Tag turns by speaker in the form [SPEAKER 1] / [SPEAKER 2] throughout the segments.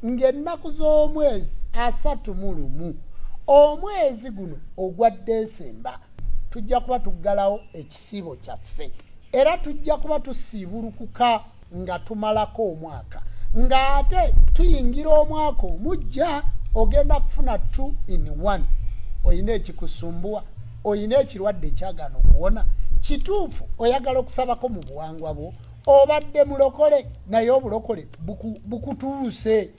[SPEAKER 1] ng'ennaku z'omwezi asatu mu lumu omwezi guno ogwa desemba tujja kuba tuggalawo ekisiibo kyaffe era tujja kuba tusiibulukuka nga tumalako omwaka ng'ate tuyingira omwaka omujja ogenda kufuna two in one olina ekikusumbuwa olina ekirwadde ekyagaana okuwona kituufu oyagala okusabako mu buwangwa bwo obadde mulokole naye obulokole bukutuuse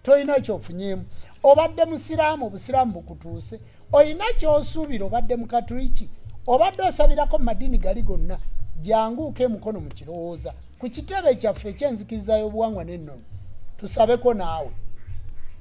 [SPEAKER 1] tolina kyofunyemu obadde musiraamu obusiraamu bukutuuse olina kyosuubira obadde mukatuliki obadde osabirako mu madiini gali gonna janguuka emukono mu kirowooza ku kitebe kyaffe ekyenzikiriza y'obuwangwa n'ennono tusabeko naawe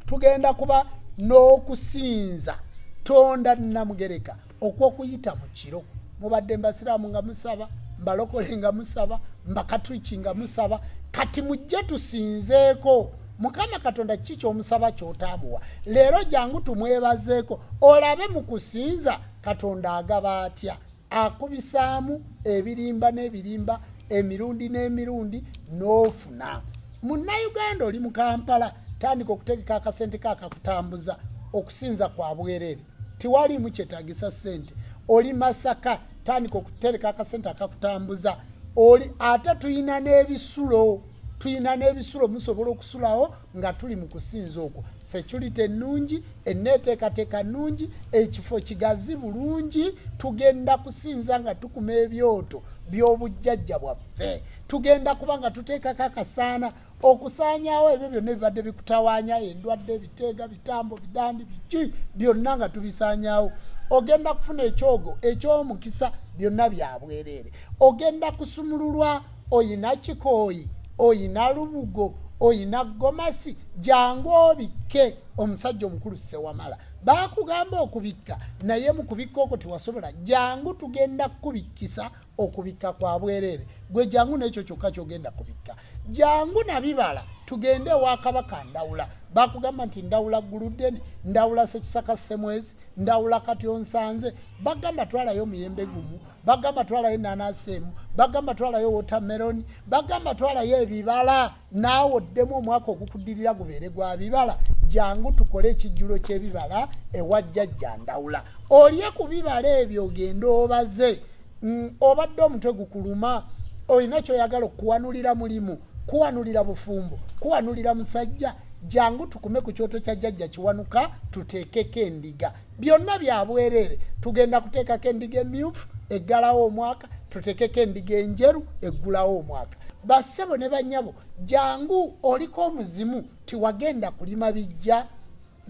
[SPEAKER 1] tugenda kuba n'okusinza tonda namugereka okw'okuyita mu kiro mubadde mbasiraamu nga musaba mbalokole nga musaba mbakatriki nga musaba kati mujje tusinzeeko mukama katonda kiki kyomusaba kyotaamuwa leero jangu tumwebazeeko olabe mu kusinza katonda agaba atya akubisaamu ebirimba n'ebirimba emirundi n'emirundi n'ofuna munnayuganda oli mu kampala tandika okutegeka akasente kaakakutambuza okusinza kwa bwereere tewaliimu kyetagisa sente oli masaka tandika okutereka akasente akakutambuza oli ate tulina n'ebisulo tulina n'ebisulo musobola okusulawo nga tuli mu kusinza okwo security ennungi enneeteekateeka nnungi ekifo kigazi bulungi tugenda kusinza nga tukuma ebyoto by'obujjajja bwaffe tugenda kuba nga tuteekako akasaana okusaanyaawo ebyo byonna ebibadde bikutawaanya endwadde biteega bitambo bidandi biki byonna nga tubisaanyaawo ogenda kufuna ekyogo ekyomukisa byonna byabwereere ogenda kusumululwa oyina kikooyi oyina lubugo oyina gomasi jangu obikke omusajja omukulu sewamala bakugamba okubikka naye mukubikka okwo tewasobola jangu tugenda kukubikkisa okubikka kwa bwereere gwe jangu n'ekyo kyokka kyogenda kubikka jangu nabibala tugende ewa kabaka ndawula bakugamba nti ndawula guludeni ndawula sekisaka semwezi ndawula kati onsanze bagamba twalayo omuyembe gumu bagamba twalayo enanasi emu bagamba twalayo wotameroni bagamba twalayo ebibala naawe oddemu omwaka ogukuddirira gubeere gwa bibala jangu tukole ekijjulo ky'ebibala ewa jjajja ndawula olye ku bibala ebyo ogende obaze mm, obadde omutwe gukuluma olina kyoyagala okuwanulira mulimu kuwanulira bufumbo kuwanulira musajja jangu tukume ku kyoto kya jjajja kiwanuka tuteekeko endiga byonna byabwereere tugenda kuteekako endiga emyufu eggalawo omwaka tutekeko endiga enjeru eggulawo omwaka bassebo ne banyabo jangu oliko omuzimu tiwagenda kulima bijja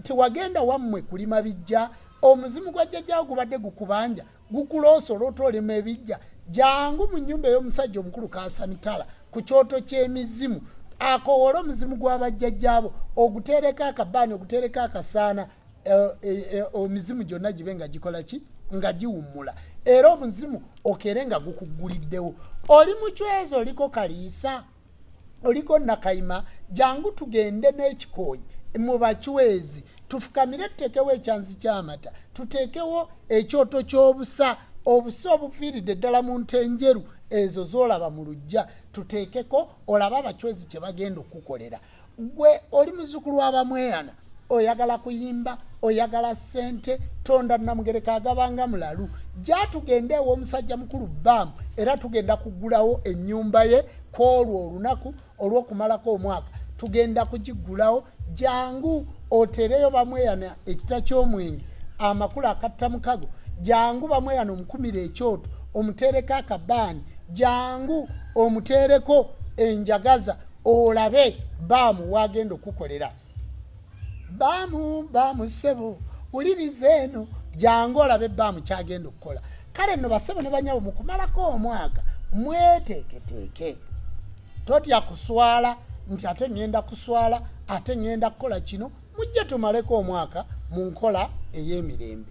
[SPEAKER 1] tiwagenda wammwe kulima bijja omuzimu gwa jjajjawo gubadde gukubanja gukuloosa olwota olima ebijja jangu mu nyumba ey'omusajja omukulu kasamitala ku kyoto ky'emizimu akowole omuzimu gw'abajjajjaabo oguteereko akabaani oguteereko akasaana Eh, eh, eh, omizimu gyonna gibe nga gikola ki nga giwummula era omuzimu okere nga gukugguliddewo oli mucwezi oliko kaliisa oliko nakayima jangu tugende n'ekikooyi mu bacwezi tufukamire tuteekewo ekyanzi ky'amata tuteekewo ekyoto ky'obusa obusa obufiiridde ddala mu nte enjeru ezo z'olaba mu lujja tuteekeko olaba abacwezi kye bagenda okukukolera gwe oli muzukulu wabamweyana oyagala kuyimba oyagala sente tonda namugereka agabanga mulalu jatugenda ewomusajja mukulu bam era tugenda kugulawo enyumba ye kwolwo olunaku olwokumalako omwaka tugenda kugigulawo jangu otereyo bamweyana ekita kyomwenge amakulu akatta mukago jangu bamweyana omukumira ekyoto omutereko akabaani jangu omutereko enjagaza olabe baamu wagenda okukolera baamu baamu ssebo wuliriza eno jangu olabe baamu kyagenda okukola kale nno bassebo ne banyabo mukumalako omwaka mweteeketeeke totya kuswala nti ate ŋŋenda kuswala ate ŋŋenda kukola kino mujje tumaleko omwaka mu nkola ey'emirembe